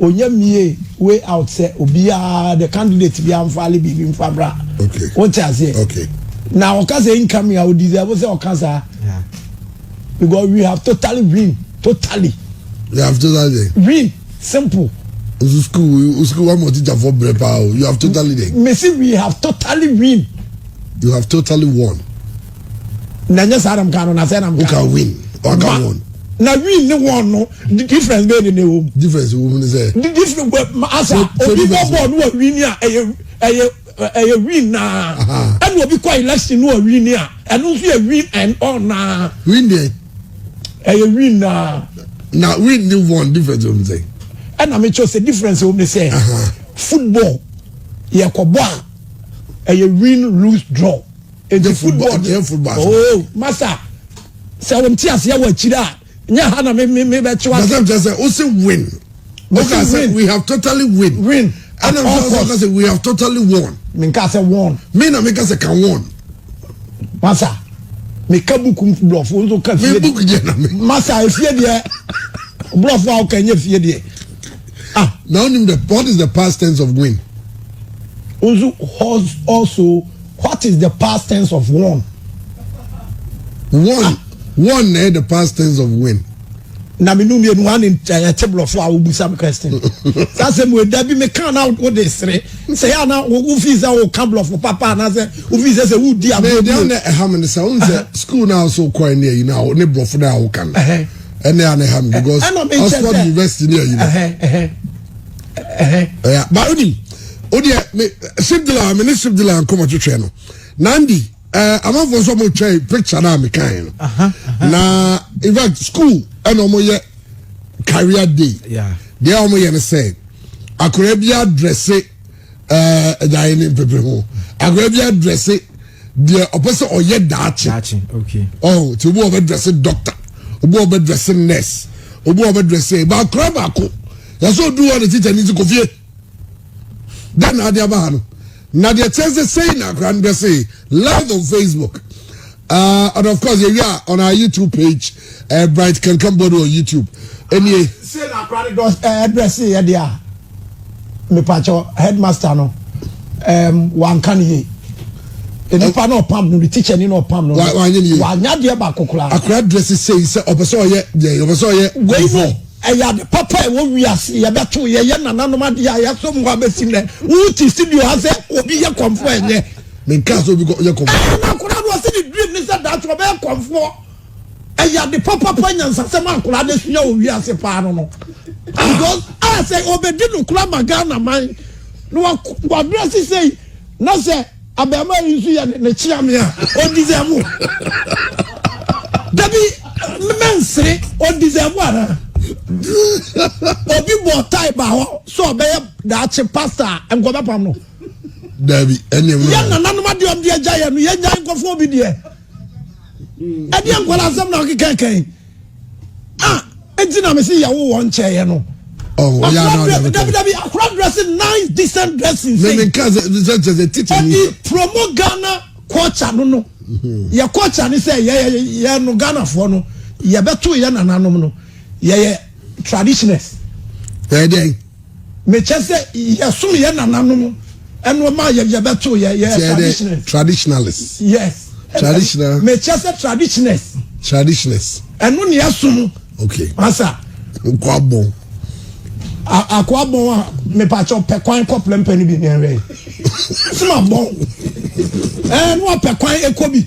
Onya mie way out sɛ obiaa the candidate biaa nfaale biribi nfa mmra wote aseɛ na ɔka sɛ incoming a ɔdeserve sɛ ɔka saa because we have totally win totally we have totally win simple nso school school wa ma teacher fo brɛ paa o you have totally dɛ mesi we have totally win you have totally won. na nyɛ saa na mka no na sɛ na mka no win ɔka wɔn na win ne wɔn no difference bɛyɛ ne na ɛwɔ mu difference wɔ mu ne sɛ difference wɔ asa obi bɔ bɔɔl no wɔ win a ɛyɛ ɛyɛ ɛyɛ win naa ɛna obi kɔ election no wɔ win a ɛno nso yɛ win and all naa win deɛ ɛyɛ win naa na win ne wɔn difference wɔ mu sɛ ɛna mekyɛ sɛ difference wɔ mu ne sɛ football yɛkɔbɔ a ɛyɛ win lose draw nti football deɛ oh masa sɛ wɔn ti aseɛ wɔ akyire a nyɛ ha na mi mi mi bɛ kyewa. basa kyerɛ sɛ o se win o ka sɛ we have totally win win ɛna nso sɛ ɔka sɛ we have totally won. mi nka sɛ won. mi na mi ka sɛ ka won. masa mi ka buku bulɔfo nso ka fie. mi buku jɛ na mi. masa efie deɛ bulɔfo a ɔka nye fie deɛ. ah na onim the what is the past tense of win. nso also. What is the past tense of won? Won, won na ɛyɛ the past tense of win. Na me num yenu ane ɛte blɔfo a wobu sam question. Saa sɛ mu ɛda bi me kan na wo de sere. Sɛ yɛ ana wo fi sɛ wo ka blɔfo papa na sɛ wo fi sɛ sɛ wo di agbo. Me dan na ɛha me ne sɛ wo sɛ school na so kɔ ne ayi na ne blɔfo na wo kan. Ɛne ane ha me because Oxford University ne ayi. ɛyà ba onim o deɛ me sibdila me ne sibdila nkɔmɔ twitwɛ no nandi ɛɛ amanfoɔ nso ɔmo twɛ picture naa mi kan no na in fact school ɛna ɔmo yɛ career day deɛ ɔmo yɛ no sɛ akɔrɔ bi adrɛse. ɛɛ ɛda yɛ ne mpepere ho akora bi adrɛse deɛ ɔpɛ sɛ ɔyɛ daakye ɔn ti obi ɔbɛ drɛse dɔkta obi ɔbɛ drɛse nɛs obi ɔbɛ drɛse ɛba akora baako yasɛ odu hɔ ne tikya ne ti kofie dɛ na adi aba ha no na deɛ kyɛn sɛ sɛyi na akora no drɛse live on facebook uh, and of course yɛ wi a on our youtube page. ɛɛ eh, bright kankan bɔde wɔ youtube ɛnie. Ah, se na akora ne dɔ ɛɛ eh, ɛbrɛ se yɛ de a mepakyɛ headmaster no ɛɛm ehm, wanka ne yie nipa náà pam no teacher ni náà pam no wanya deɛ baako koraa. akora dɛsɛ sɛyi sɛ ɔpɛ sɛ ɔyɛ yɛ ɔpɛ sɛ ɔyɛ. wei mu ɛyɛ ade papa a ɛwɔ wiase yɛbɛto yɛyɛ nananom adeɛ a yɛaso mu abɛsi nɛ wote studio ha sɛ obi yɛ kɔmfoɔ ɛnyɛ. menka sɛ obi yɛ kɔmfoɔ. ɛna akora no ɔsɛ ne dream ne sɛ daakye ɔbɛyɛ kɔmfoɔ. ɛyɛ ade papapa nyansasɛm a nkwadaa no asua wɔ wiase paa no no because a ah, sɛ ɔbɛdi no kora ma ghana man na wabrɛ se sɛi na sɛ abɛɛma yi nso yɛ ne kyea me a ɔdisɛvo dabi mɛnsere ɔdisɛvo anaa obi bɔ tae ba hɔ sɛ ɔbɛyɛ daakye pasta a nkɔbɛpam no dabi ɛne yɛ nananom adeɛ ɔmde agya yɛ no yɛnya nkɔfoɔ bi deɛ ɛdeɛ nkwadaa asɛm na ɔkeka kan a ɛnti na mese yɛwo wɔ nkyɛeɛ no dabidabi akora dressing nice decent dressing ɛde promo ghana culture no no mhm. yɛ culture ne sɛ yɛyɛ no ghanafoɔ no yɛbɛto yɛ nananom no yɛyɛ traditioners ɛdeɛn Mekyɛ sɛ yɛsom yɛ nananom ɛno ma yɛ yɛbɛto yɛ yɛ traditionalist. Traditionalist. Yes. Traditional. Mekyɛ sɛ traditionalist. Traditionalist. Ɛno ne yɛsom. Okay. Asa. Nkwabɔn. akoa bɔn a mepakyɛ ɔpɛ kwan kɔ plɛmpɛ no bi ne ɛwɛ sima bɔn ɛɛ no apɛ kwan ɛkɔ bi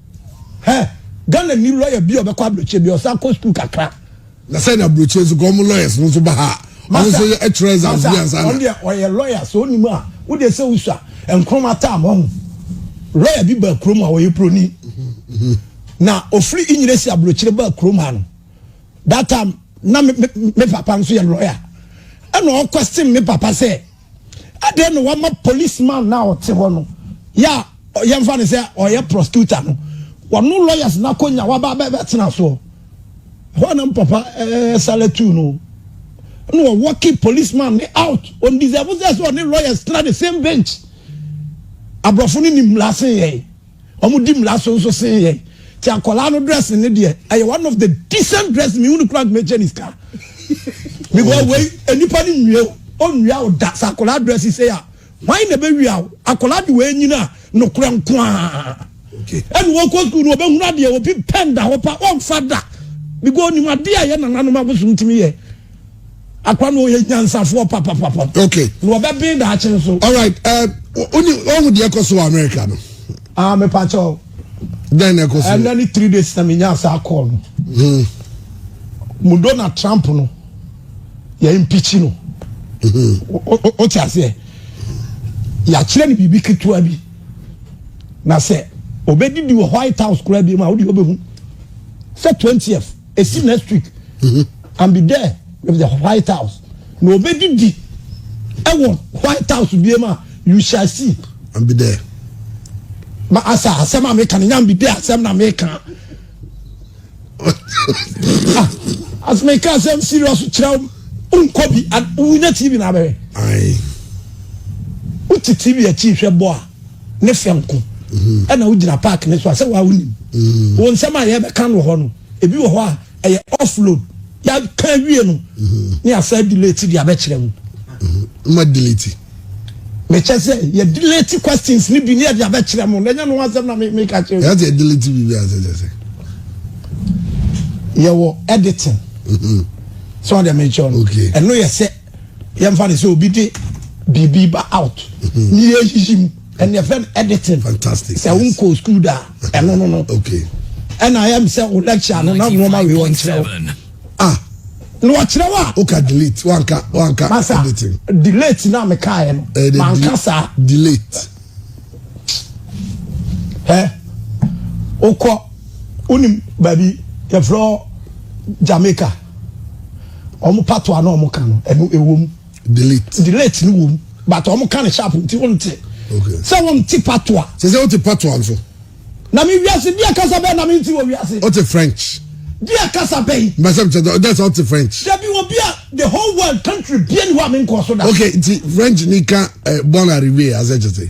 Hɛ Ghana nni lawyer bi a ɔbɛkɔ aburokyire bia ɔsan kɔ school kakra. Na sɛ na aburokyire nso kɔ ɔmo lawyers no nso ba ha a ɔmo nso yɛ ɛtwerɛ exams bi ansa na. Ɔno deɛ ɔyɛ lawyer sɛ ɔnim a wo deɛ sɛ wosua nkroma time ɔho lawyer bi baa kurom a ɔyɛ broni na ofiri inyina si aburokyire baa kurom ha no that time na me, me, me papa nso yɛ lawyer ɛna ɔkɔ stem me papa sɛ. Adɛn na wama policeman no a ɔte hɔ no yɛ a yɛmfa no sɛ ɔyɛ prosecutor no wɔno lawyers no akɔnya waba bɛtena soɔ hɔ anam papa sale tu no na wɔwɔke policeman ne out ɔndeserve sɛ sɛ ɔne lawyers tena the same bench aborɔfo no nim lase yɛe Ɔmo di mmra so nso sen yɛn. Nti akwadaa no dressing no deɛ, ɛyɛ one of the decent dressing, mehu no koraa nka mɛgye ne sika. Because wei, nnipa no nwie wo, ɔnnwia wo da. Sɛ akwadaa dressing sei a, hwan na ɛbɛwia wo? Akwadaa de wei nyini a, nokorɛ nko ara. Ɛna wɔkɔ school no, wɔbɛhunu adeɛ, obi pɛn da hɔ pa, ɔmfa da. Because ɔnim adeɛ a ɛyɛ nananom abosom tumi yɛ. akwa na ɔyɛ nyansafoɔ papapapa okay na ɔbɛben daakye nso alright wone eh, ɔhu deɛ ɛkɔ so wɔ america no ah mepakyɛ o dɛn na ɛkɔ so ɛnɛ ne three days na menya saa call no hmm. mu donald trump no yɛ mpikyi no hmm. wote aseɛ yɛakyerɛ no biribi ketewa bi na sɛ ɔbɛdidi wɔ white house koraa bi mu a wode wobɛhu sɛ 20th esi next week mm-hmm. and be there with the white house na obedidi ɛwɔ white house bie ma you shall see and be there ma asa asɛm a meka no nya mbi de asɛm na meka ah, as meka asɛm serious kyerɛ wo nkɔ bi wonya tv na abɛhwɛ wote tv akyi hwɛ bɔ a ne fɛ nko mm-hmm. ɛna wogyina park ne so a sɛ waa wonim mm-hmm. wɔ nsɛm a yɛbɛka no wɔ hɔ no ebi wɔ hɔ a ɛyɛ offload yɛaka awie no mm-hmm. ne asa delete de abɛkyerɛ mu ma delete mekyɛ sɛ yɛ delete questions ne bi ne yɛde abɛkyerɛ mu na ɛnyɛ no asɛm na meka kyerɛ yɛ sɛ delete biribi asɛ kyɛ sɛ yɛwɔ editing sɛ ɔde mekyɛ no ɛno yɛ sɛ yɛmfa ne sɛ obi de biribi ba out ne yɛyiyi mu ɛne ɛfrɛ no editing sɛ wonkɔɔ school da ɛno no no ɛna ɛm sɛ wo lecture no na nnoɔma wei wɔnkyerɛ wo ah na wɔkyerɛ wo a woka delete wanka wanka masa editing delete na mekaeɛ no eh, manka saa delete ɛ wokɔ wonim baabi yɛfrɛ jamaica Wɔn patoa na wɔn ka no, ɛno ɛwɔ mu. Delete. Delete no wɔ mu, but wɔn ka no sharp nti wɔn te. Okay. Sɛ wɔn te patoa. Sɛ sɛ wɔn te patoa nso. Na mi wiase deɛ kasa bɛyɛ na mi nti wɔ wiase. Wɔn te French. Deɛ kasa bɛyɛ. Mbɛsɛ mi kyɛ dɛ sɛ wɔn te French. Dabi wɔ bi a the whole world country bie ni hɔ a mi nkɔ so da. Okay, nti French ni ka eh, bon arrivé asɛ kyɛ sɛ.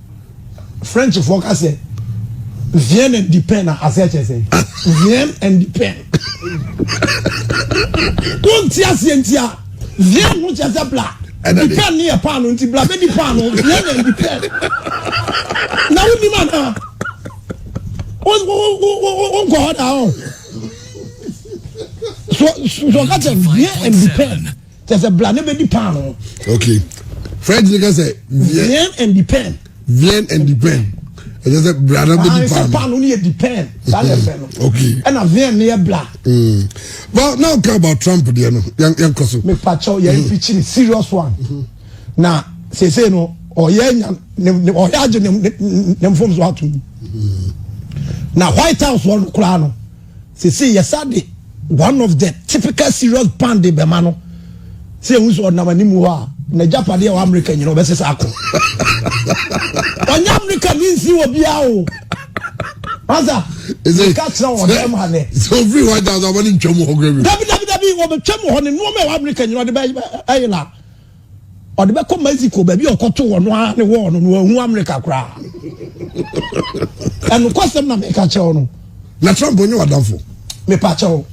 Frenchfoɔ ka sɛ vien and di pen a asɛ kyɛ sɛ vien and di pen wonti aseɛ nti a vien ho kyɛ sɛ bla di pen ne yɛ paano nti bla bɛdi paano vien and di pen na wonim anaa wonkɔ hɔ daa ɔ so so ka kyɛ vien and di pen kyɛ sɛ bla ne bɛdi paano ok french ne ka sɛ vien and depend vien and depend ɛkyɛ sɛ bla na bɛdi paano paano ne yɛ depend saa na ɛfɛ no ok ɛna vien ne yɛ bla well now ka about trump deɛ no yɛnkɔ so mepakyɛw yɛ mpikyiri serious one na sese no ɔyɛ nya ɔyɛ agye ne mfom so atom na white house wɔ no koraa no Sesei yɛsan de one of the typical serious band de bɛma no sɛ yɛhu sɛ ɔnam anim hɔ a n'agyapadeɛ wɔ Amerika nyina ɔbɛsesa ako. Ɔnyɛ Amerika ni nsi wɔ biara o. Asa, nka kyerɛ wɔ dɛm ha nɛ. Sɛ ofiri hɔ agya sɛ ɔbɛne ntwam hɔ kura bi. Dabi dabi dabi wɔbɛtwam hɔ ne nnoɔma ɛwɔ Amerika nyina ɔde bɛyɛ la. Ɔde bɛkɔ Mexico baabi a ɔkɔto wɔ no ara ne wɔɔ no na wahu Amerika koraa. Ɛnokwasɛm na meka kyɛw no. Na Trump onye wadamfo. Mepa kyɛw.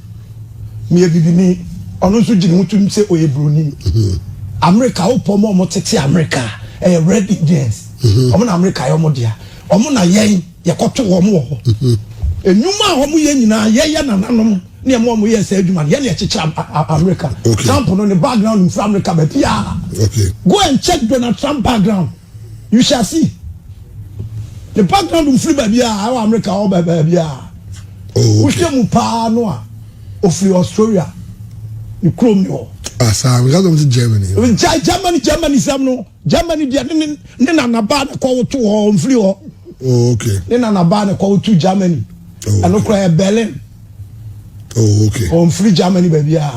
Meyɛ bibini. Ɔno nso gyina ho tum sɛ ɔyɛ buroni. Mhm. Amerika wopɔ ma ɔmo tete Amerika ɛyɛ red Indians. Mhm. Ɔmo na Amerika yɛ ɔmo dea. Ɔmo na yɛn yɛkɔto wɔn wɔ hɔ. Mhm. Enwuma a ɔmo yɛ nyinaa yɛyɛ nananom. ne ɛma ɔmo yɛɛ saa adwuma no yɛne ɛkyekyere America okay. Trump no ne background mfiri America baabiaa okay. go and check Donald Trump background you shall see ne background mfiri baabiaa ɛwɔ America ɔwɔ baabiaa oh, okay. wohwɛ mu paa no a ɔfiri Australia ne kurom ne hɔ asaa ah, because of the Germany gya Germany Germany sɛm no Germany deɛ ne ne ne nanabaa ne kɔ woto hɔ mfiri hɔ oh, okay. ne nanabaa ne kɔ woto Germany oh, ɛno koraa yɛ Berlin oh okay ɔnfiri germany baabi a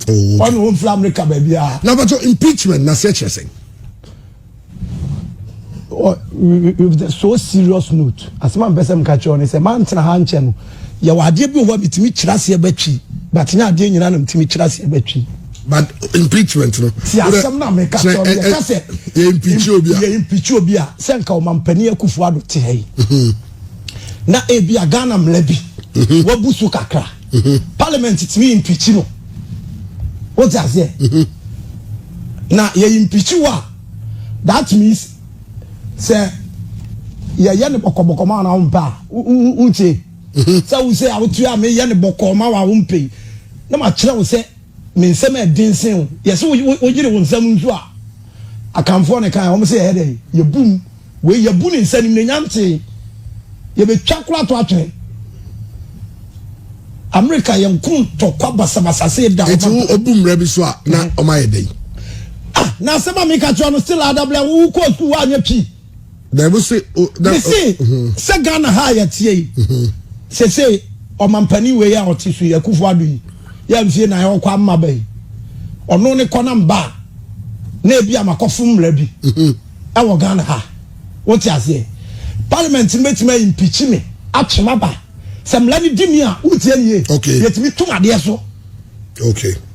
oh okay ɔne ɔnfiri america baabi a na bɛtɔ impeachment na sɛ kyerɛ sɛn with a so serious note asɛm a mpɛ sɛ mka kyerɛ ɔne sɛ mantena ha nkyɛ no yɛwɔ adeɛ bi wɔ hɔ a metumi kyerɛ aseɛ bɛtwi but nyɛ adeɛ nyinaa na metumi kyerɛ aseɛ bɛtwi but impeachment no ti asɛm na meka kyerɛ ɔne yɛka sɛ yɛ impeach obi a yɛ impeach obi a sɛ nka ɔmampani akufo ado te ha yi na ebia Ghana mmara bi mhm. wabu so kakra mhm. parliament tumi impeach no wote aseɛ mhm. na yɛ impeach wo a that means sɛ yɛyɛ ne bɔkɔbɔkɔ ma na wompɛ a wonkye sɛ wo sɛ a wotua meyɛ ne bɔkɔɔ ma wo a wompɛ na makyerɛ wo sɛ Me nsam yɛ den sen wo. Yɛse wo wo yere wo nsam nsu a Akanfoɔ ne kae wɔn se yɛyɛ dɛn yɛbu mu wei yɛbu ne nsa animuonyam tee yɛbɛtwa kora to atwene Amerika yɛn ko ntɔkwa basabasa se da Eti wo obu mmra bi so a na wɔn ayɛ dɛn. Ah na asɛm a meka kyerɛ no still adablɛ wo kɔɔ school woanyɛ pii. mese sɛ ghana ha a yɛteɛ yi sese ɔmampani wei a ɔte so yi akufo ado yi yɛ mfie na ɔkɔ ama ba yi ɔno ne kɔ na mba a na ebi amakɔfo mmara bi ɛwɔ ghana ha wote aseɛ parliament no bɛtumi ayi mpikyi me atwe m aba sɛ mmara no di mi a wotie nie yɛtumi tom adeɛ so okay.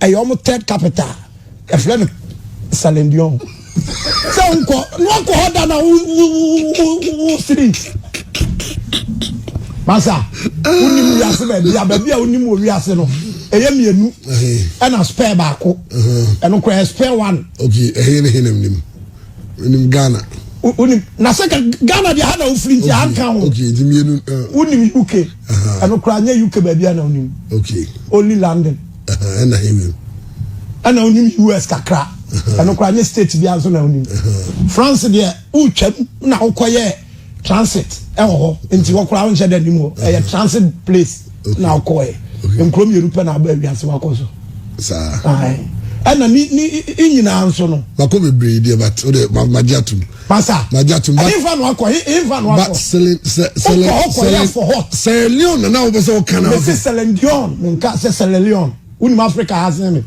ɛyɛ wɔn third capital ɛfrɛ no salendion sɛ nkɔ na wakɔ hɔ da na wosiri masa wonim wiase baabi a baabi a wonim wɔ wiase no ɛyɛ mmienu ɛna spare baako ɛno kora yɛ spare one okay ɛhe ne he nam nim wonim ghana wonim na sɛ ghana deɛ ha na wofiri nti anka ho wonim uk ɛno koraa nyɛ uk baabi a na onim only london ɛna onim us kakra ɛno koraa nyɛ state bi nso na onim france deɛ wotwam na wokɔyɛ transit ɛwɔ hɔ nti hɔ koraa wonhyɛ dɛ nim hɔ ɛyɛ transit place na wokɔɛ nkuro mmienu pɛ na aba awiase wakɔ so saa ɛna ni ni nyinaa nso no. mako bebree deɛ but o de ma ma gye atum. Pastor, ɛhe fa na wakɔ? Ɛhe fa na wakɔ? But Celine, Celine, Celine, Celine, for what? Celine Dion nana wo bɛ sɛ o kan na. Mesi Celine Dion, nka sɛ Celine Dion, wunim Africa ha sɛ mi.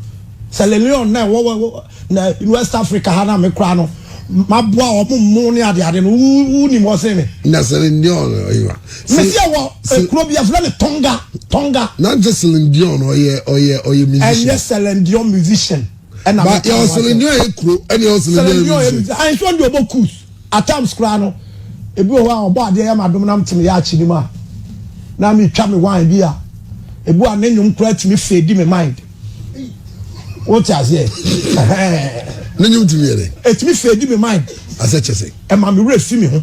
Celine Dion na ɛwɔ wɔ na West Africa ha na mi kura no. Ma bɔ a wɔn mu ne ade ade no, wunim wɔ sɛ mi. Na Celine Dion ɔyɛ wa. Mesi ɛwɔ ekuro bi afilɛ ni Tonga, Tonga. Na n sɛ Celine Dion ɔyɛ ɔyɛ ɔyɛ musician. Ɛnyɛ Celine Dion musician. ɛna mi ka ho asɛm. selendua yɛ kuro ɛna yɛ selendua yɛ region. ayi nso de ɔbɔ kus at times koraa no ebi wɔ hɔ a ɔbɔ adeɛ yɛ ma dom nam te me yɛ akyi nim a na mi twa me wine bi a ebi a ne nnwom koraa tumi fɛ di me mind wote aseɛ ne nnwom tumi yɛ dɛ etumi fɛ di me mind asɛ kyɛ sɛ ɛma me werɛ fi me ho.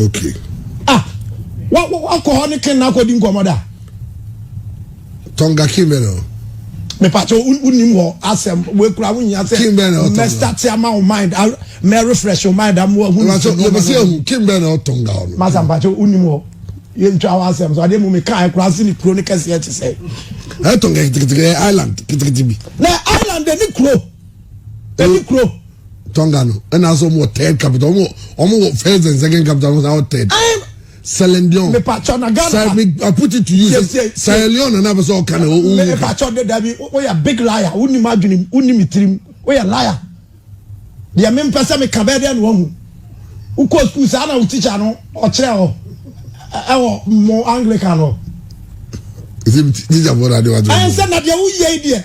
okay ah wa wa wa kɔ hɔ ne ken na akɔ di nkɔmɔ da. tɔnga kin bɛ na. mepatɛ wonim hɔ asɛm wekura wonya sɛ mɛstate ama wo mind mɛrefresh wo mind ama wahunɛbɛsɛ ahu kin bɛ na ɔtɔnga hɔ no masa mpatɛ wonim hɔ yɛntwa wo asɛm so adeɛ mu mekaɛ kora se ne kuro no kɛseɛ kye sɛ ɛtɔnga kitikiti island kitikiti bi na island ne kuro Ɛni kuro. Tonga no ɛna asɛ wɔn wɔ third capital wɔn wɔ wɔn wɔ first and second capital wɔn wɔ third. Sierra Leone. Mipatwa na Ghana. Sir, me, I put it to you. Sierra Leone na n'abɛsɛ ɔka na ɔwɔ wuka. Mipatwa de dabi o yɛ big liar o ni ma adwene o ni mi tirim o yɛ liar. Deɛ mi mpɛ sɛ mi ka bɛɛ deɛ na wɔn hu. Wokɔ sukuu saa na wo tikya no ɔkyerɛ hɔ ɛwɔ mo Anglican hɔ. Ɛsɛ mi tikya bɔ na adewa to. Ɛnsɛ na deɛ woyɛ yi deɛ.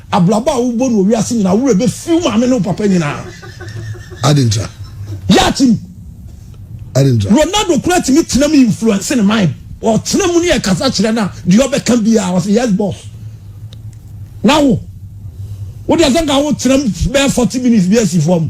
Abrabɔ a wobɔ no wɔ wiase nyinaa, wo werɛ bɛfi wo maame ne wo papa nyinaa. Ade ntra. Yɛ atim. Ade ntra. Ronaldo kura tumi tena mu influence ne mind. Ɔtena mu ne yɛ kasa kyerɛ na deɛ ɔbɛka biara ɔsɛ yes boss. Na wo, wo deɛ sɛ nka wo tena mu bɛyɛ forty minutes bi asi fam.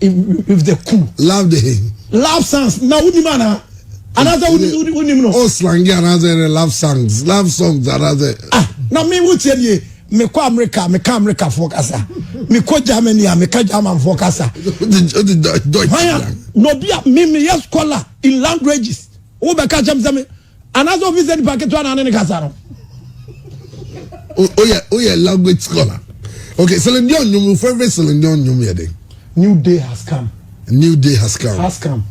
with the cool. love the hey. love songs na wonim anaa anaasɛ wonim no. o slangi anaasɛ ne love songs love songs anaasɛ. ah na mi wo tiɛ nie mekɔ amerika meka amerikafoɔ kasa mekɔ germany a meka germanfoɔ kasa hwan a na obi a memeyɛ scholar in languages wobɛka kyɛm sɛ me anaasɛ obi sɛ nipa ketewa na ne ne kasa no. oyɛ oyɛ language scholar okay Celine Dion nnwom wo favorite Celine Dion nnwom yɛ den. new day has come. new day has come. has come.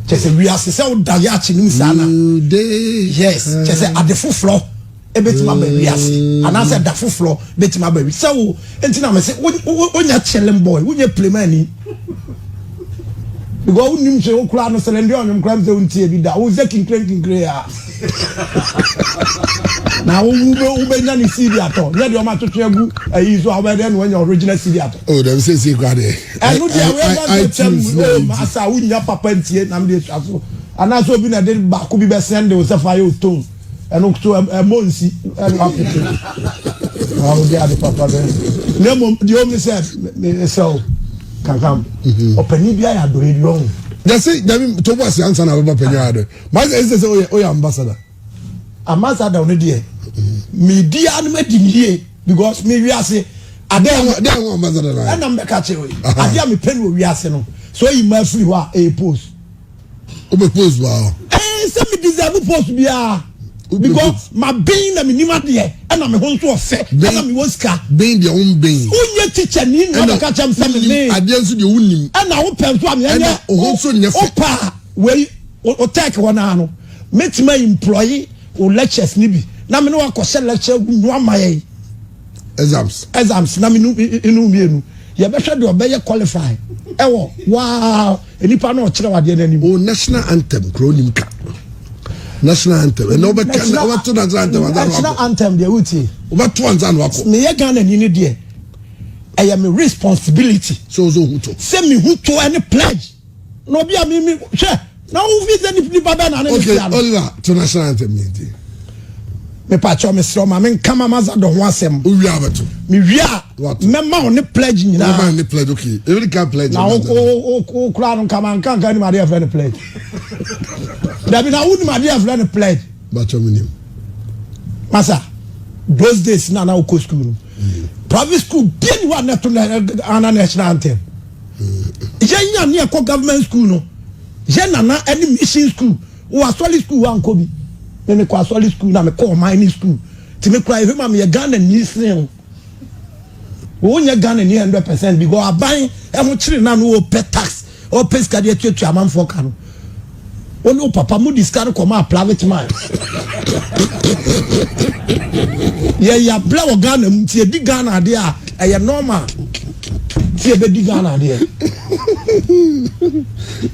kyɛ sɛ wiase sɛ woda yɛ akye no mu saa na. new day. yes kyɛ sɛ ade foforɔ. ebetumi aba wi ase anaasɛ da foforɔ betumi aba wi sɛ wo nti na mese wonya chilling boy wonyɛ plemani because wonim sɛ wokura no sɛlɛ ndeɛ ɔnwom kora m sɛ wontie bi da wo sɛ kinkirenkinkire a na wobɛnya ne cd atɔ nyɛ deɛ ɔmatwetwe agu ayi so a wobɛdɛ na wanya original cd atɔ oh, dɛm sɛ sie kora deɛ ɛno deɛ wɛbɛntɛkyɛm asa wonya papa ntie nam deɛ sua so anaasɛ obi na de baako bi bɛsɛn de wo sɛ fa yɛ otone ɛno nkoto ɛmɔ nsi ɛno apete na ɔde ade papa bɛ na mmom deɛ ɔmu sɛ ɛsɛ o kankam mhm. ɔpanyin bi ayɛ adɔyɛ bi ɔho. yɛsi dabi tó bɔ asi ansa na abɛbɔ panyin ayɛ adɔyɛ maa sɛ ɛsɛ sɛ ɔyɛ ɔyɛ ambassador. ambassador ɔno deɛ mi di anum adi mi yie because mi wi ase adeɛ ho adeɛ ho ambassador na yɛ ɛna mbɛka kyerɛ yi adeɛ mi pɛ ni o wi ase no so eyi maa firi hɔ a ɛyɛ post. o bɛ post wa hɔ. ɛɛ sɛ mi deserve post biara because ma ben na mi nim adeɛ ɛna mi ho nso ɔfɛ ɛna mi wɔ sika. ben deɛ o n ben. o n yɛ teacher ni na ɔbɛ kakyɛ mi sɛ mi nin. adeɛ nso deɛ o n nim. ɛna o pɛ nso ami ɛnyɛ o ho nso nyɛ fɛ. o pa wei o tɛk hɔ naa no mi ti ma employee o lectures ni bi na mi ni wa kɔ hyɛ lecture gu nua ma yɛ yi. exams exams na menu enu mmienu yɛbɛhwɛ deɛ ɔbɛyɛ qualify ɛwɔ waa nipa na ɔkyerɛ wadeɛ n'anim. o national anthem kuro nim ka national anthem ɛnna ɔbɛ ka na ɔbɛ to national anthem ansa na wakɔ national anthem deɛ wotie ɔbɛ to ansa na wakɔ. meyɛ ghana ni ne deɛ ɛyɛ mi responsibility. sɛ o sɛ o hu to. sɛ mi hu to ɛne pledge. na obi a mimi hwɛ na wo fi sɛ nipa bɛn na ne ne tia no. okay oliver to na san ntɛm yɛn ti. mepa kyɛw me srɛ ɔma me nka ma maza dɔ ho asɛm. o wia abɛto. me wia a mɛma wo ne pledge nyinaa. mɛma ne pledge okay ebi ka pledge. na o o kura no nkama nka nka ni ma de yɛ fɛ ne pledge. dabi na wo ni ma de yɛ fɛ ne pledge. ba kyɛw mi ni mu. masa those days na na o kɔ sukuu no mm. private school bie ni wa ne to na ana national anthem. yɛn nya ne ɛkɔ government school no yɛn nana ɛne mission school wɔ asɔre school wɔ ankɔ bi ne ne kɔ asɔre school na me kɔ ɔman ne school ti me kura ehwɛ ma me yɛ Ghana ni sin o wɔn nyɛ Ghana ni hundred percent because aban ɛho kyerɛ na no wɔ pɛ tax ɔpɛ sika de atuatua amanfoɔ ka no. Wo ne wo papa mode sika no kɔmaa private mine. Yɛn yɛabrɛ wɔ Ghana mu nti yɛdi Ghana adeɛ a ɛyɛ normal nti yɛbɛdi Ghana adeɛ.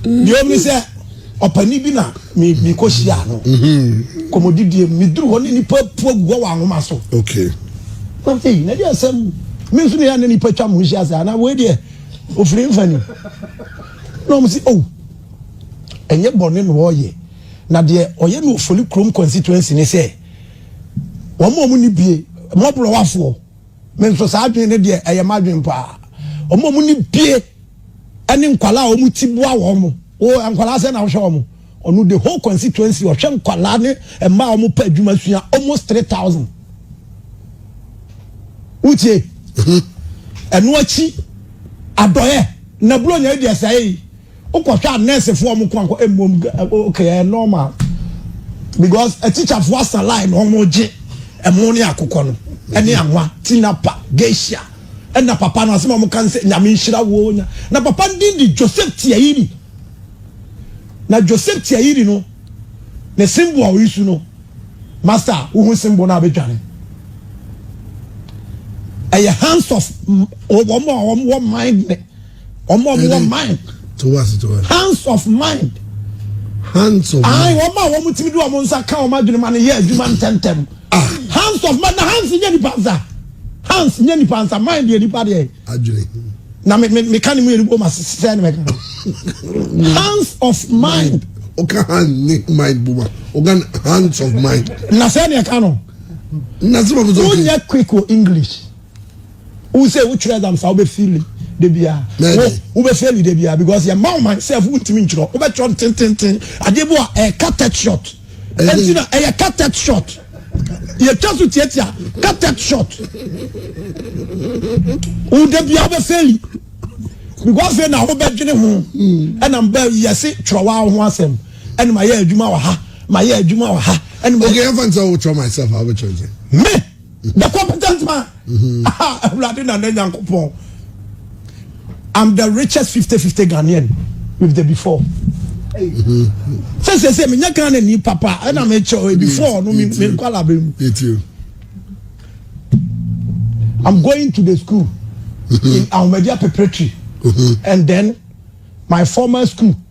Deɛ ɔmi sɛ ɔpani bi na mekɔ hyia no mhm. kɔmɔdidie meduru hɔ ne nipa pua gu hɔ wɔ anwoma so. Okay. Nam sɛ yi na deɛ asɛm me nso ne yɛ ne nipa twa mo nhyia sɛ anaa wei deɛ ofiri mfani. Na wɔn se oh ɛnyɛ bɔne na ɔreyɛ na deɛ ɔyɛ no Ofoli kurom constituency ne sɛ wɔn a wɔn ni bie mmɔborɔwafoɔ me nso saa adwene ne deɛ ɛyɛ m'adwene paa wɔn a wɔn ni bie ɛne nkwadaa a wɔn ti boa wɔn o nkwadaa sɛ na wɔhwɛ wɔn Ɔno the whole constituency ɔhwɛ nkwadaa ne mmaa a wɔpɛ adwuma sua almost three thousand. Wotie? Ɛno akyi adɔyɛ na buronya yi deɛ sɛe yi wokɔhwɛ a nɛɛsefoɔ wɔn ko ankɔ mmom okay ɛyɛ normal because atikyafoɔ asa line na wɔn gye ɛmo ne akokɔ no ɛne anwa tinapa geisha ɛna papa no asɛm a wɔn ka no sɛ nyame nhyira wo na papa no din de Joseph Tiairi. Na Joseph Tiayiri no ne Simbo a oyisu no master wohu Simbo no a bɛdwane ɛyɛ hands of wɔn a wɔn wɔ mind ne wɔn a wɔn wɔ mind hands of mind hands of mind wɔn a wɔn tumi de wɔn nsa ka wɔn adwene ma no yɛ adwuma ntɛntɛm ah. hands of mind na hands nyɛ nipa nsa hands nyɛ nipa nsa mind yɛ nipa deɛ. adwene. na me me meka ne mu yɛn bom ase sɛ ne mɛka no hands of mind. ɔka hand ne mind bom a ɔka hands of mind. na sɛ ne ɛka no. na sɛ bɛbɛ sɛ ɔkè. wonyɛ quick wɔ english wosɛ wotwerɛ exam saa wobɛfili de biara wobɛfili de biara because yɛ ma ɔman sɛ fo wontumi ntwerɛ wobɛtwerɛ ntententen adeɛ bi a ɛyɛ eh, cut short ɛnti na ɛyɛ eh, cut short Yɛtwa so tiatia ka tech shot. Wo da bia wobɛ feli. Because afei na wobɛdwene ho. Ɛna mba yɛse twerɛ wa ho asɛm. Ɛna ma yɛ adwuma wɔ ha. Ma yɛ adwuma wɔ ha. Okay, I'm going to try myself. I'll be trying. Me, the competent man. Mm-hmm. Ah, Awurade na ne Nyankopɔn. I'm the richest 50-50 Ghanaian with the before. Mm-hmm. Say say say me nya Ghana ni papa and I'm sure before no me me kwala be mu. I'm going to the school mm-hmm. in Ahmadiyya preparatory and then my former school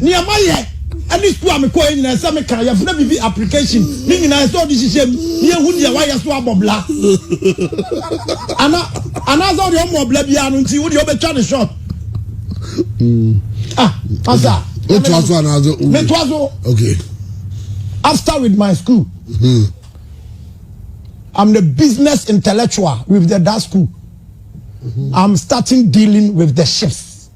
Nea mayɛ ne sukuu a mekɔeɛ nyinaa, ɛsɛ sɛ meka, yɛfrɛ biribi application, ne nyinaa ɛsɛ sɛ wode hyehyɛ mu na yɛhu deɛ woayɛ so abɔ bla. Ana, anaasɛ wode ɔmmɔ bla biara no nti wodeɛ wobɛtwa ne short. Ah, asa. Wotoa so anaasɛ wo? Metoa so. Okay. After with my school. Hmm. I'm the business intellectual with the that school. Mm-hmm. I'm starting dealing with the ships.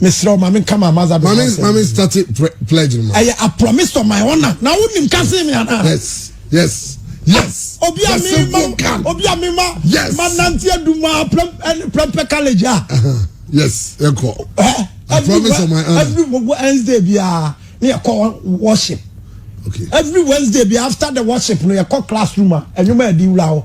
mesrɛ wo ma menka ma maza ma me ma me start pledge no ma ɛyɛ a promise to my honor na wonim ka se me ana yes yes yes ah, obi a me ma obi a me ma yes ma nante aduma prempɛ college a uh-huh. yes ɛkɔ eh, I promise to my honor every Wednesday bia ne yɛkɔ worship okay every Wednesday bia after the worship no yɛkɔ classroom a ɛnwuma ɛdi wura hɔ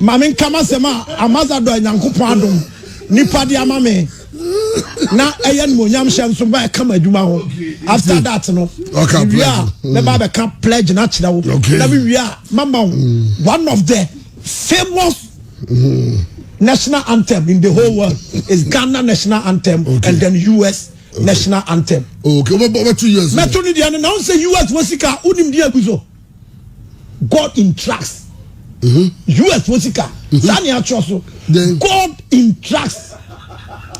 Ma menka m'asɛm a Ambasadɔ a Nyankopɔn adom nnipa de ama me na ɛyɛ animuonyam hyɛ nso ba ɛka m'adwuma ho. After that no, mewie a mɛba abɛka pledge no akyerɛ wo na mewie a mama wo one of the famous national anthem in the whole world is Ghana national anthem okay. and then US okay. national anthem. Okay, mɛto US. Mɛto ne deɛ no na wo sɛ US wɔ sika wonim deɛ agu so. God in tracks. Mm-hmm. US fo sika. Mm-hmm. Saa ni atwerɛ so. God in tracks.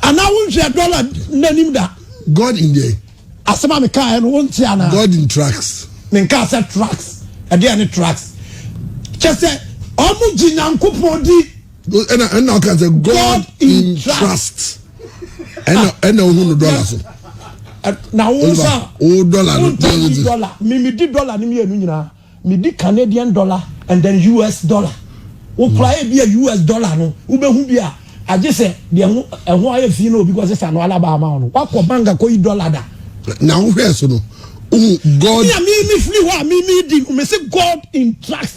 Anaa wo nhwɛ dɔla n'anim da. God in there. Asɛm a meka yɛ no wo nti anaa. God in tracks. Menka sɛ tracks. Ɛdeɛ ne tracks. Kyɛ sɛ ɔmo gye Nyankopɔn di. ɛna ɛna ɔka sɛ god in trust ɛna ɛna ohun no dɔla so. na wo nsa o dɔla no ntɛni dɔla mimi di dɔla ni mienu nyinaa mi di canadian dɔla and then us dɔla wokura yɛ bi a us dɔla no wobɛhu bi a agye sɛ deɛ ho ɛho ayɛ fi na obi kɔ sesa no alaba ama wo no wakɔ bank akɔ yi dɔla da. na wohwɛ so no ohun god. mi a mi mi firi hɔ a mi mi di mi si god in trust.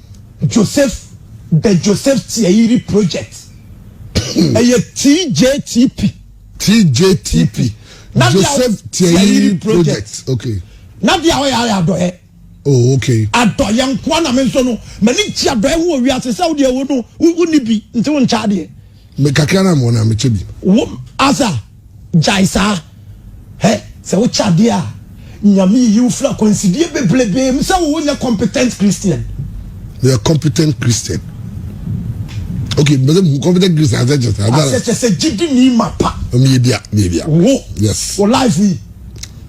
Joseph The Joseph Tiayiri Project ɛyɛ TJTP. TJTP Joseph Tiayiri Project okay. Na deɛ ɔyɛ ayɛ adɔyɛ. Oh okay. Adɔyɛ nkoa na me nso no m'ani gye adɔyɛ ho wɔ wiase sɛ wo deɛ wo no wo ni bi nti wo nkyɛ adeɛ. Me kakra na mewɔ na mekyɛ bi. Wo Asa gyae saa hɛ sɛ wo kyɛ adeɛ a Nyame yiyi wo firi akwansideɛ bebrebee mu sɛ wo nyɛ competent Christian. Meyɛ competent Christian. Okay, mbese mu competent Christian ase kyɛ sɛ. Ase kyɛ sɛ gyidi ni mapa. Meyɛ bia, meyɛ bia. Wo. Yes. Wo life yi.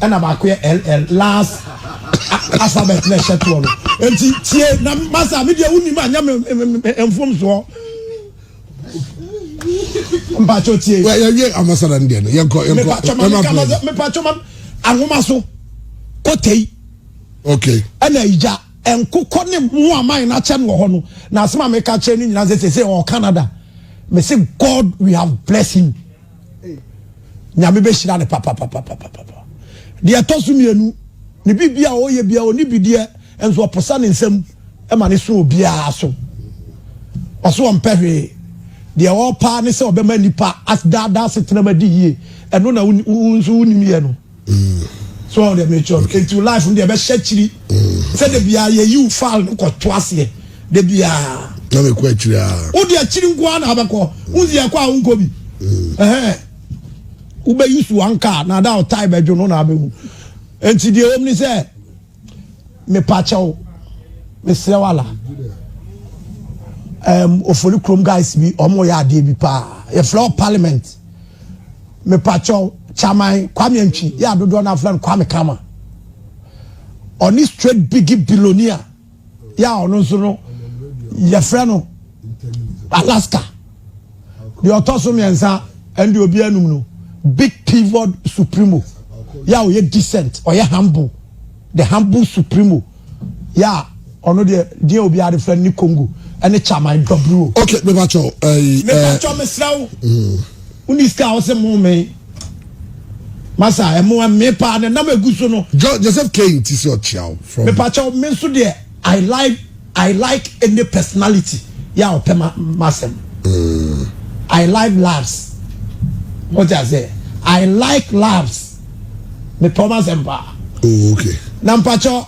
Ɛna baako yɛ LL, last alphabet na ɛhyɛ toɔ no. Enti tie na masa a medeɛ wonim a nyɛ me mfomsoɔ. Mpakyɛ tie. Wɛ yɛwie amasada no deɛ no yɛnkɔ yɛnkɔ. Mepakyɛ ma meka ma sɛ mepakyɛ ma ahoma so kotei. Okay. Ɛna igya nkokɔ ne mu aman na kyɛ no wɔ hɔ no na asɛm a meka kyerɛ ne nyinaa sɛ sɛ ɔwɔ Canada. Me se God we have blessed him. Nyame bɛhyira no papapapapapa. Deɛ ɛtɔ so mmienu, ne biribi a ɔyɛ biara ɔni bideɛ nso ɔposa ne nsam ma ne so obiara so. Ɔso ɔmpɛ hwee. Deɛ ɔpaa ne sɛ ɔbɛma nipa asdaadaa setenam adi yie. Ɛno na wo nso wonim yɛ no. so ɔde mekyerɛ no nti life no deɛ ɛbɛhyɛ akyiri sɛ da biara yɛyiw file no kɔto aseɛ da biara na mekɔ akyiri a wode akyiri nko ara na abɛkɔ wonsi ɛkɔ a wonkɔ bi wobɛyi so anka na ada ɔtae bɛdwo no na abɛhu nti deɛ wɔm ne sɛ Mepakyɛw, mesrɛ wo ala. Um, ofori krom guys bi, ɔmo yɛ adeɛ bi paa. Yɛfrɛ wɔ parliament. Mepakyɛw, chairman Kwame Antwi, yɛ adodoɔ no afrɛ no Kwame Kama. Ɔne straight biggie billionaire, yɛ a ɔno nso no, yɛfrɛ no Alaska. deɛ ɔtɔ so mmiɛnsa ɛne deɛ obi anum no big pivot supremo yɛ a ɔyɛ decent ɔyɛ humble the humble supremo yɛ a ɔno deɛ deɛ obi ade fɛ ne congo ɛne chaman dɔburo. ok mepa kyɛw ɛyi ɛɛ mepa kyɛw mesra wo woni sika a wɔsɛ mo me masa ɛmo ɛme paa na nam egu so no. joseph kane ti sɛ ɔkyia wo. mepa kyɛw me nso deɛ. I like I like any personality yɛ a ɔpɛ m'asɛm. I like labs. Mo ti ase? I like labs. Me pɛ ɔmo asɛm paa. Oh okay. Na mpatsɔ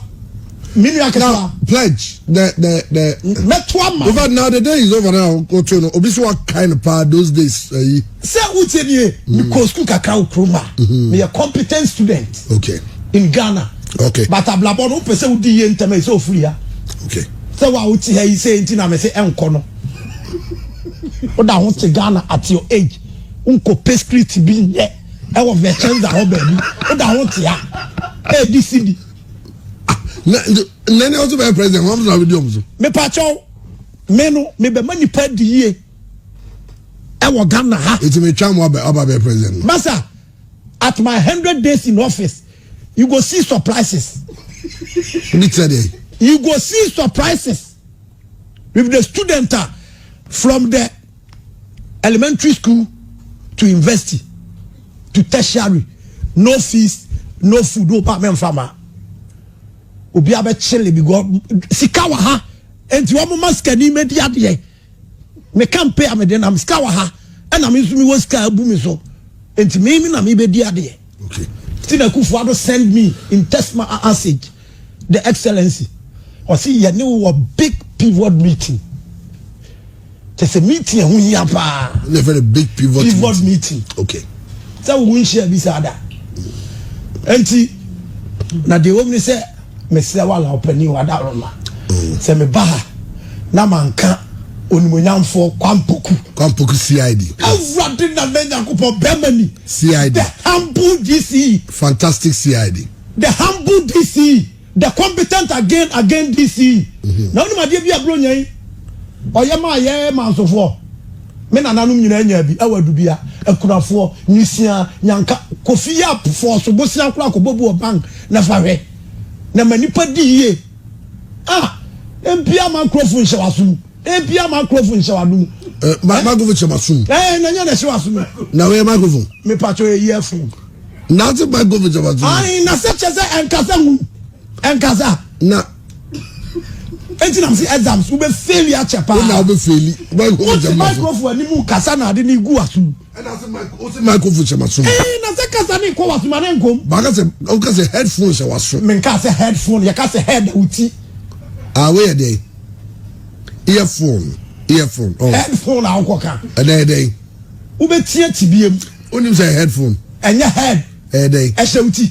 mi nua ketewa. Now pledge the the the. Mɛto ama. Over now the day is over now. Otu no obi so wa kind paa those days ayi. Eh, Sɛ wotie nie, mekɔɔ sukuu kakra wɔ kurom a meyɛ competent student okay. in Ghana okay. but abrabɔ no wopɛ sɛ wodi yie ntɛm ɛsɛ ofiri ha okay. sɛ wo a wote ha yi sɛ nti na mese ɛnkɔ no woda ho te Ghana at your age wonkɔ pɛ street bi nyɛ ɛwɔ vɛkyɛnza hɔ baabi woda ho te ha ɛdi si bi nane ɔso bɛyɛ president wɔn na wodi ɔmo so mepakyɛw me no mebɛma nipa di yie ɛwɔ ghana ha. eti mi twa mu aba aba bɛ president no. masa at my hundred days in office you go see surprises. ebi tẹ de. you go see surprises with the student ah, from the elementary school to university to tertiary no fees no food o ba mɛ nfa ma obi abɛ kyele bi gɔ sika wɔ ha nti wɔn ma sikani mɛ di adeɛ. Me kampe a mede nam sika wɔ ha ɛna me nso mewɔ sika abu me so nti me me na mebɛdi adeɛ okay. nti na Akufo Addo send me in text message the excellency ɔse yɛne wɔ big pivot meeting kyɛ sɛ meeting ɛho hia paa big pivot, pivot meeting okay. sɛ wo nhyia bi saa da nti na deɛ wɔm ne sɛ Mesrɛ wo Allan Ɔpanin o, Adaworoma, sɛ meba ha na manka Onimuonyamfoɔ Kwampɔku. Kwampɔku CID. Awurade Nana Nyankopɔn, bɛrima ni. CID. The humble DCE. Fantastic CID. The humble DCE. The competent again again DCE. Mhm. Na wonim adeɛ bi a Buronya yi ɔyɛ maa yɛ mansofoɔ me nananom nyinaa nyaa bi ɛwɔ adubia akunafoɔ nyisiaa nyanka kofi yɛ afɔɔso bosia koraa kɔbɔbu ɔban Na fa hwɛ, na ma nnipa di yie a, na mpia ma nkurɔfo nhyɛ w'aso mu, na mpia ma nkurɔfo nhyɛ w'ado mu. Eh, ma eh? microphone hyɛ m'aso mu. Eh, na nyɛ na ɛhyɛ w'aso mu. Na wɔyɛ microphone. Mepatɔ yɛ yie fo. Na ase microphone hyɛ m'aso mu. Ayi, na sɛ kyɛ sɛ ɛnkasa hu, ɛnkasa. Na. Eti na mo si exams, wo bɛ faili akyɛ paa. Wo na wo bɛ faili, microphone hyɛ m'aso. Wo ti microphone ni mu kasa na ade ni gu aso mu. ɛna sɛ mic o sɛ microphone hyɛ ma so. ɛɛ na sɛ kasa ne nkɔ waso ma ne nkom. baaka sɛ o ka sɛ headphone hyɛ waso. mi nka sɛ headphone yɛ ka sɛ head o ti. aa wo yɛ dɛ earphone earphone. Oh. headphone a ɔkɔ kan. ɛdɛ ɛdɛ. wo bɛ tiɛ ti bi yɛ mu. o nim sɛ headphone. ɛnyɛ head. ɛdɛ. ɛhyɛ o ti.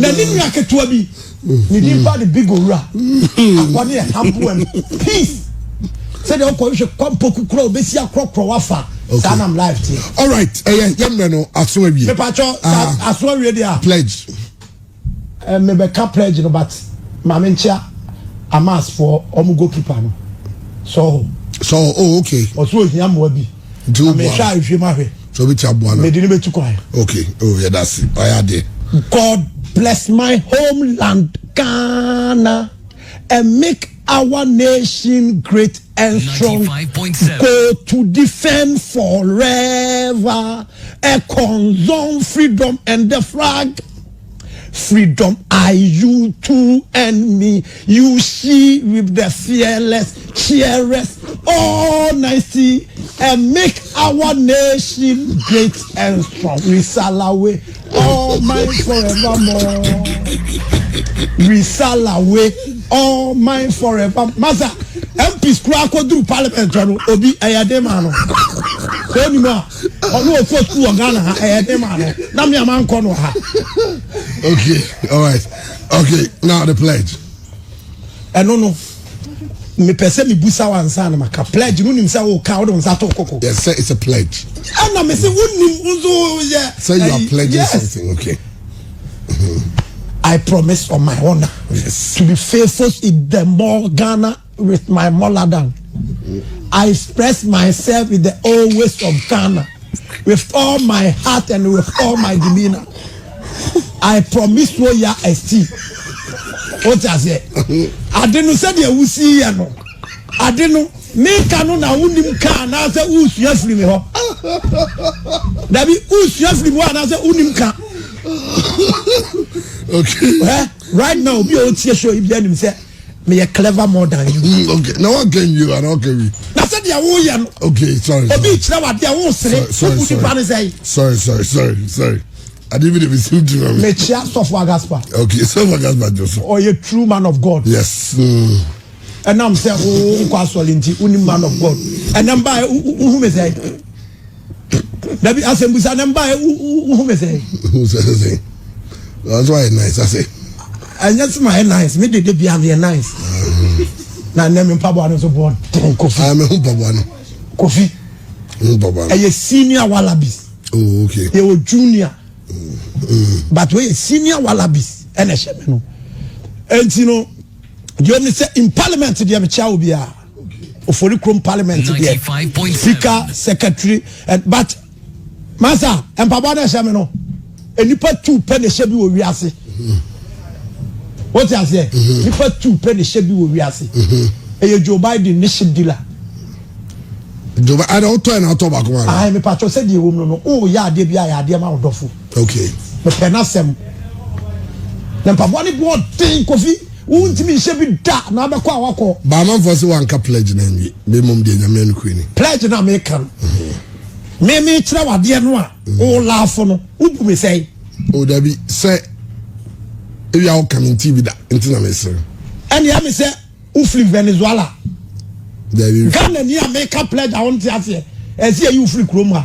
na ne nua ketewa bi ne din ba de big owura akɔ ne ɛhaboa mu peace sɛdeɛ wokɔhwehwɛ kwampɔku kora wobɛsi akorɔkorɔ wafa saa nam live teɛ alright ɛyɛ yɛmmerɛ no aso awie mepakyɛ ah. aso awie deɛ a pledge eh, mebɛka pledge no but ma menkyea amasfoɔ ɔmo goalkeeper no sɔho sɔho oh okay ɔso ohia mmoa bi nti wo bua no nhwɛ ma hwɛ so bi ti aboa no mede ne betu kwan okay oh yɛ da se ɔyɛ ade god bless my homeland ghana and make our nation great and strong go to defend forever a concern freedom and the flag Freedom I you too and me you she with the fearless cheerers all nice and make our nation great and strong we salawe all mine forevermore we salawe all mine forever masa MPs kura akɔduru parliament no obi ɛyɛ den ma no sɛ onim a. ɔno ɔkɔ sukuu wɔ ghana ha ɛyɛ ne maa no na me a mankɔ no ha okay all right okay now the pledge ɛno no mepɛ sɛ mebusa wo ansa na maka pledge no nim sɛ woka wode wo nsa to koko yes sir it's a pledge ɛna me sɛ wonim nso yɛ sɛ you are pledging yes. something okay I promise on my honor yes. to be faithful in the more Ghana with my molar down I express myself with the old ways of Ghana with all my heart and with all my demeanor. I promise wo ya esti. O ti ase. Ade no sɛ deɛ wusi yɛ no. Ade no meka no na wonim ka anaasɛ wosua firi me hɔ. Dabi wosua firi me hɔ anaasɛ wonim ka. Okay. Right now obi a otie show yi bi anim sɛ meyɛ clever more than you. Mm, okay na wa kɛ nwi wa na ɔkɛ wi. na sɛ deɛ wo yɛ no. okay sorry sorry obi kyerɛ wa deɛ wo sere obu nipa ne sɛyi. sorry sorry sorry sorry adi bi de bi si mi tiri ma mi. mekyia sɔfo agaspa. okay sɔfo agaspa jɔ so. ɔyɛ true man of god. yes. Mm. ɛnam sɛ wo nkɔ asɔre nti wo ni man of god ɛnam ba wo hu mi sɛ. dabi asɛmbusa na mba wohu me sɛ nso ayɛ nice asɛ ɛnyɛ soma ayɛ nice me dede bia meyɛ nice na nnɛ me mpaboa no nso bɔɔ den kofi ah, meho mpaboa no kofi ɛyɛ senior wallabies oh, okay. yɛwɔ junior mm. but wɔyɛ senior wallabies ɛna ɛhyɛ me no ɛnti no deɛ ɔne sɛ in parliament deɛ mekyia wo biara ofori kurom parliament deɛ sika secretary eh, but masa mpaboa na ɛhyɛ mi no nipa tu pɛ na ɛhyɛ bi wɔ wiase o ti aseɛ nipa tu pɛ na ɛhyɛ bi wɔ wiase ɛyɛ joe biden ne ship dealer. joe biden ɛna ɔtɔ ɛna ɔtɔ baako ma. ayi mi pàtó sɛ deɛ wɔm no no o yɛ adeɛ bi a yɛ adeɛ ma ɔdɔfo. okay. mepɛ n'asɛm na mpaboa ne bu ɔden kofi. Wontumi nhyɛ bi da na abɛkɔ a wakɔ. Baamanfoɔ se wanka pledge no anwie me mmom deɛ nyame nokure ni. Pledge na meka no. Mhm. Me me kyerɛ wadeɛ no a mhm. o laafo no wobu me sɛe. O dabi sɛ ebi a woka me nti bi da nti na mesere. Ɛne ɛme sɛ wofiri Venezuela. Dabi. Ghana ni a meka pledge a wonte aseɛ ɛsɛ yɛ yi wofiri kurom ha.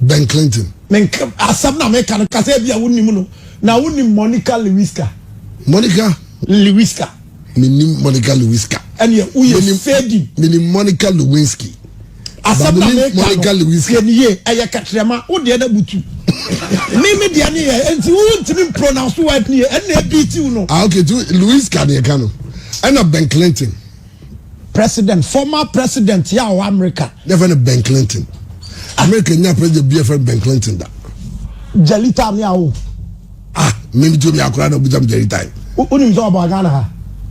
Ben Clinton. Me nka asɛm na meka no kasa ebi a wonim no na wonim Monica Lewiska. Monica. Lewiska. Menim Monica Lewiska. Ɛnìyɛ woyɛ fading. Menim Monica Lewinsky. Asɛm na meka no tiɛ ni yie ɛyɛ kɛtrɛma wo deɛ na butu. Mi mi deɛ ni yɛ nti wo ntumi pronounce word ni yɛ ɛnna ebi ti wo no. Ah okay tu Lewiska ni ɛka no ɛna Ben Clinton. President, former president yɛ a ɔwɔ America. Yɛfɛ no Ben Clinton. America nya president bi yɛfɛ no Ben Clinton da. Jelita ne awo. Ah, mmiri tuo mi akora na obisa mi Jelita yi. O nim sɛ ɔbɔ Ghana ha.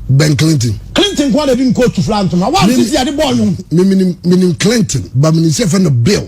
Ben Clinton. Clinton kwan na ebi nkootu fila ntoma. Wa ti ti ade bɔ ɔnyom. Mimi nim Clinton, ba mi nim sɛ yɛfɛ no Bill.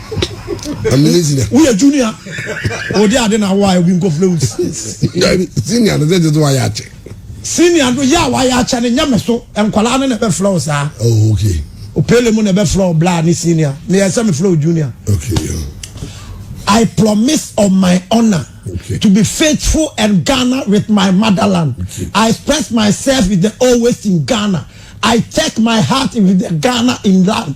amene senior. woyɛ junior odi ade na awa obi nkɔfrɛ wo senior no sɛ gye so wayɛ akyɛ senior no yɛ a wayɛ akyɛ no nyɛ me so nkwadaa no na ɛbɛfrɛ wo saa oh, okay. opele mu na ɛbɛfrɛ wo bla ne senior na yɛ sɛ mefrɛ wo junior okay, yeah. I promise on my honor okay. to be faithful and Ghana with my motherland. Okay. I express myself with the always in Ghana. I take my heart with the Ghana in land.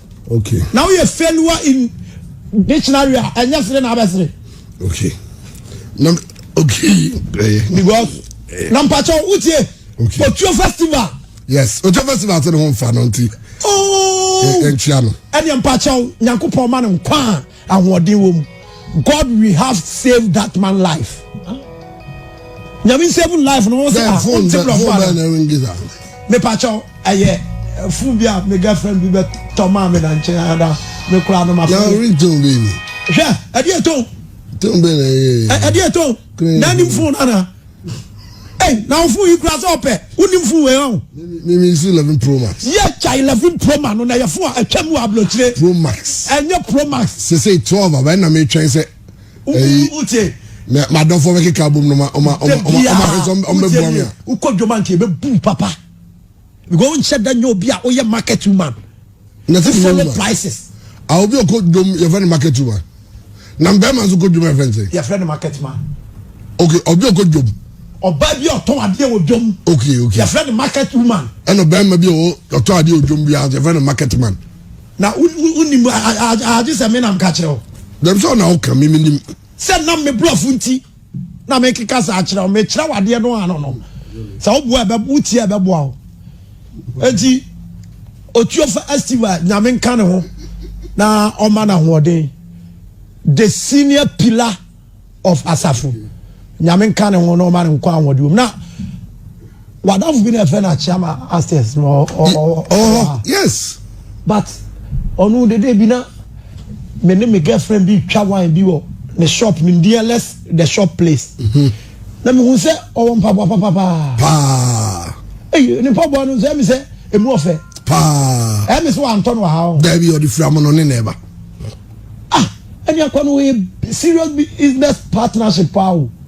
Okay. Na woyɛ failure in dictionary a ɛnyɛ sere na abɛsere. Okay. Na okay. Eh, Because eh. na mpatsɔ wotie. Okay. Otuo festival. Yes, Otuo festival ti ne ho nfa no nti. Ooo. Oh. Ɛnkyia eh, no. Ɛni mpatsɔ nyankopɔn ma no nkwa. Ahoɔden wɔ mu. God we have save that man life. Nyame save life no wɔn sɛ ah wɔn ti blɔfo ara. Mepakyɛw ɛyɛ eh, fun bi a me girlfriend bi bɛ tɔ maa mi na nkyɛn ada me kura no ma fɛ. Yàrá orí tó bẹ́ẹ̀ ni. Hwẹ́ ẹ̀dí ètò. Tó bẹ́ẹ̀ ni ẹ̀yẹ. Ẹ̀dí ètò. Náà ni fún un nana. Hey, na ɔfo yi kura sɛ ɔpɛ wonim fo wei ɔn. Mimi si eleven pro max. Yɛ kya eleven pro max no na yɛ fo a atwa mu ablokyire. Pro max. Ɛnyɛ pro max. Sese twelve abɛn na mi twɛn sɛ. Ɛyi wute. Na ma dɔfo bɛ keka abom no ma ɔma ɔma ɔma ɔma hwɛ sɛ ɔma bɛ bua mi a. Ukɔ dwoma nti ebe bu papa. Because nhyɛ da nyɛ obi a oyɛ market woman. na ɛsɛ follow prices. a obi ɔkɔ dwom yɛfrɛ no market woman na mbɛrima nso kɔ dwom yɛfrɛ no sɛ. yɛfrɛ no market man. okay obi ɔkɔ dwom. ɔbaa bi ɔtɔn adeɛ wɔ dwom. okay okay yɛfrɛ no market woman. ɛna ɔbɛrima bi ɔtɔn adeɛ wɔ dwom bi a yɛfrɛ no market man. na wonim agye sɛ me nam ka kyerɛ wo. dɛm sɛ ɔna woka me menim. sɛ nam me borɔfo nti. na mekeka saa kyerɛ wo mekyerɛ wo adeɛ no ano no sɛ woboa ɛbɛ wotie a ɛbɛboa wo enti otuofa estiva nyame nka ne ho na ɔma no ahoɔden the senior pillar of asafo nyame nka ne ho na ɔma no nkɔ ahoɔden na wadafo bi na ɛfrɛ no akyeama upstairs no ɔhɔ yes but ɔno dede bi na me ne me girlfriend bi twa wine bi wɔ ne shop nimdeɛ less the shop place mhm. na mehu sɛ ɔwɔ mpaboa papapaa paa eyi ne mpaboa no sɛ mi sɛ emu ɔfɛ paa ɛmi sɛ wantɔ no ha o dɛbi ɔde fira mu no ne na ɛba ah ɛni akɔ no yɛ serious business partnership paa o.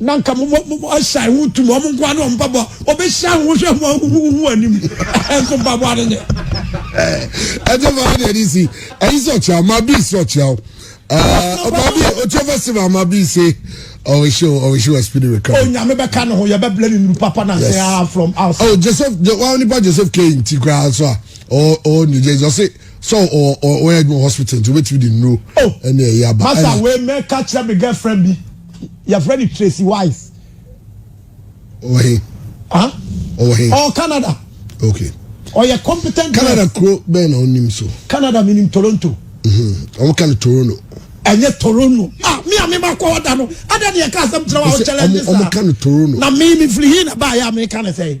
na nka mo mo mo ahyɛn ho tum wɔn nkoa ne wɔn mpaboa wɔbɛhyia ho hwɛ ho ahuhuhu anim nso mpaboa no nyɛ. ɛnyɛ maa deɛ ne si ɛyi sɛ ɔkyerɛ ɔma bi si ɔkyerɛ o ɔma bi ɔkyerɛ festival ɔma bi se ɔwɔ show ɔwɔ show ɛspini wɛ kan. onyame bɛka ne ho yɛbɛbla ne nuru papa na sɛ aa from outside. ɔ oh, joseph wa nipa joseph kane nti koraa so a ɔ ɔ new jersey ɔse sɛ ɔ ɔ ɔyɛ adwuma hospital nti wobɛtumi de nuro ɛne ɛyɛ aba. masa wei mɛka kyerɛ me girlfriend bi. yɛfrɛ no tracy wise ɔwɔ he ah ɔwɔ he ɔwɔ canada okay ɔyɛ competent canada kuro bɛn na ɔnim so canada menim toronto ɔmo ka no toronto ɛnyɛ toronto ah mi a mi ma kɔ ɔda no ada ne yɛ ka asɛm kyerɛ wa ɔkyɛlɛ ne sa ɔmo ka no toronto na mi mi firi hin na ba yɛ a mi ka ne sɛ.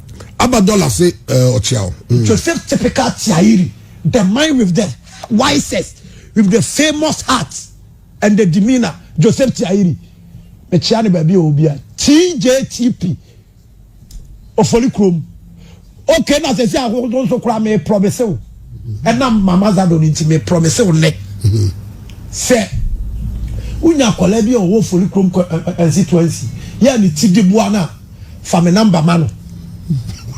Aba dollar se eh, ɔkyeaw. Mm. Joseph typical tiairi, the man with the wisest, with the famous heart and the demeanor. Joseph tiairi. Mekyia ne baabi a obi a. TJTP. Ofoli krom. Okay na sɛ sɛ ahodoɔ nso koraa me promise wo. Ɛnam mama zado no nti me promise wo nnɛ. Sɛ wonya akwadaa bi a ɔwɔ ofoli krom constituency yɛ ne ti de boa no a fa me number ma no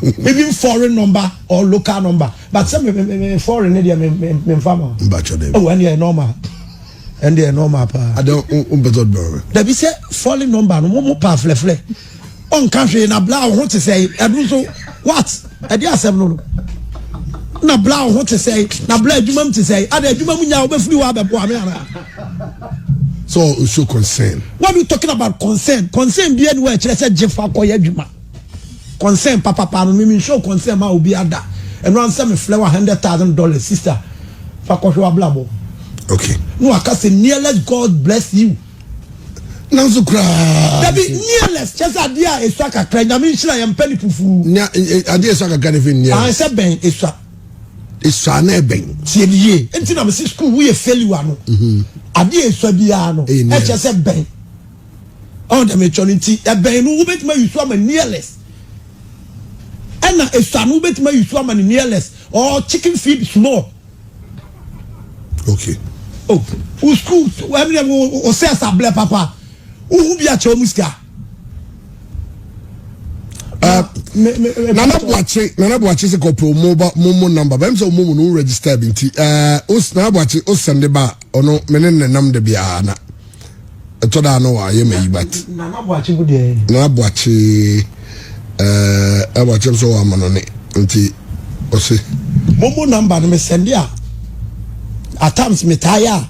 even foreign number or local number but sɛ me me me me foreign ne deɛ me me me nfa ma. n b'a twɛ dɛ. ɛwɔ ɛni yɛ normal ɛni yɛ normal paa. adé o o bɛ tɔ dɔrɔ. dabi sɛ foreign number no mo mo pa filɛfilɛ ɔ nka hwee na bla ɔho te sɛ ɛdu nso what ɛdi asɛm no no na bla ɔho te sɛ na bla adwuma mu te sɛ adé adwuma mu nya ɔbɛ firi hɔ abɛ bɔ ame ara. So o show concern. What are you talking about concern? Concern bi enu ɛkyerɛ sɛ gye fa kɔ yɛ adwuma. Concern papapa no mimi show concern ma obi ada. Ɛno ansɛ me flɛ wa hundred thousand dollars sister fa kɔhwɛ wa blabɔ. Okay. No aka sɛ nearless God bless you. Nanso koraa. Dabi nearless kyɛ sɛ adeɛ a esua kakra nyame nhyira yɛn mpɛ ne fufu. Nya adeɛ esua kakra ne fi nearless. Ahɛn sɛ bɛn esua. Esua no yɛ bɛn? Tie me yie. Nti na mesi sukuu wo yɛ failure no. Mhm. Adeɛ a esua biara no, ɛkyɛ sɛ bɛn. Ɔn dɛm etwa no nti, ɛbɛn no wobɛtumi ayi so ama nearless. Ɛna esua no wobɛtumi ayi so ama ne nearless or chicken feed small. Okay. Oh, wo sukuu, ɛmi dɛ, wo sɛ ɛsa blɛ papa. Wohu bi akyɛ wɔn sika. nana buakye nana buakye sɛ kɔpɛ ɔmo ba mo mo namba bɛm sɛ ɔmo mu no register bi nti ɛɛ os nana buakye o sɛnde ba ɔno me ne ne nam de biara na ɛtɔ da ano wa yɛ ma yi bat nana buakye bu deɛ nana buakye ɛɛ nana buakye nso wɔ ama no ne nti ɔse mo mo namba no me sɛnde a at times me taa yɛ a.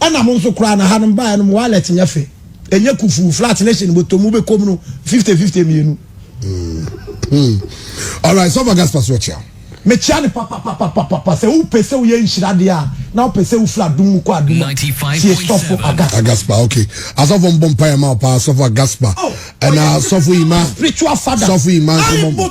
Ɛna mo nso koraa na ha no mo baeɛ no mo wallet nyɛ fɛ ɛnyɛ kufu flat ne hye no bɔtɔ mu bɛkɔm no fifty fifty mmienu. Mm. Mm. All right, so for gas pass what you? mekyia ne papapapapapa sɛ wopɛ sɛ woyɛ nhyira deɛ a na wopɛ sɛ wofiri adom mu kɔ adom a tie sɔfo agaspa agaspa ok asɔfo mbɔ mpaeɛ ma wo paa sɔfo agaspa ɛna sɔfo ima spiritual father sɔfo ima nso mbɔ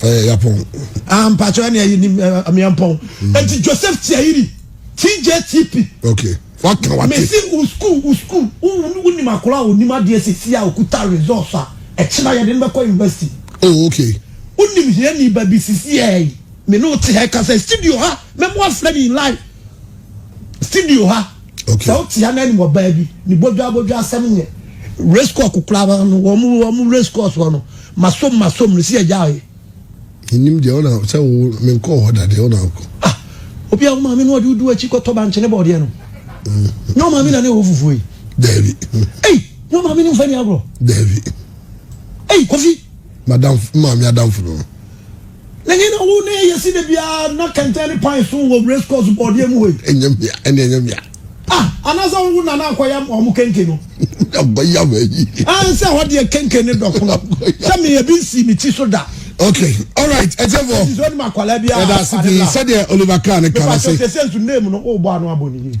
ɛyɛ yapɔn. ah mpatsɔ ɛni ɛyi ni miampɔn eti joseph tiayiri tjtp. ok waka wate. mesi u school u school u unim akora a onim adeɛ sisi a okuta results a ɛkyina yɛde no bɛkɔ university. oh ok. unim hiani ba bi sisi ɛyi me ne o te ha ɛka sɛ studio ha mɛmo afrɛ ne live studio ha. Okay. Sɛ wote anan mu ɔbaa bi ne bodwa bodwa asɛm nyɛ. Race course kokora ba no wɔn mu wɔn mu race course wɔ no masom masom no si agya ayɛ. Nim deɛ ɔna sɛ wo menkɔ hɔ da deɛ ɔna akɔ. Ah obi a wo maame no ɔde wodu akyi kɔtɔ bankyene bɔɔdeɛ no. Nyɛ wo maame na ne wɔ fufuo yi. Daabi. Ei nyɛ wo maame ne mfa ni agorɔ. Daabi. Ei kofi. Madam maame adamfo no. N'enyi na wo ne yesi da biara na kɛntɛn ne pan so wɔ race course bɔɔdeɛ mu hɔ yi. Ɛnyɛ mmea, ɛne ɛnyɛ mmea. Ah, anaasɛ wo nana akɔyam wɔn kenke no. Abɔyam ayi. Ah, nsɛ hɔ deɛ kenke ne dɔkono. Sɛ me ebi nsi me ti so da. Okay, all right, ɛtɛfɔ. Ɛti sɛ ɔnim akwadaa bi a. Ɛda ase pii sɛdeɛ Oliver Kahn ne kan ase. Mepa sɛ sɛ nsu name no o bɔ ano abɔ ne yie.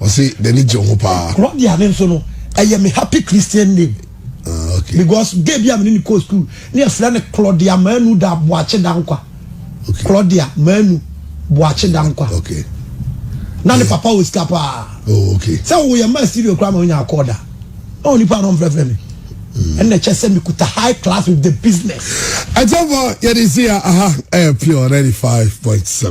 ɔsi n'ani gye ho paa. Claudia ne nso no ɛyɛ me happy christian name. Uh, okay. because gay bi a mene ne kɔ school ne ɛfrɛ no claudia manu da boakye da nkwa okay. claudia manu boakye da nkwa okay. na ne papa wɔ sika paa oh, okay. sɛ woyɛ ma studio koraa ma wonya akɔɔ da na onipa no mfrɛfrɛ me ɛna kyɛ sɛ mekuta high class with the business ɛkyɛmfɔ yɛde si a aha ɛyɛ pure 95.7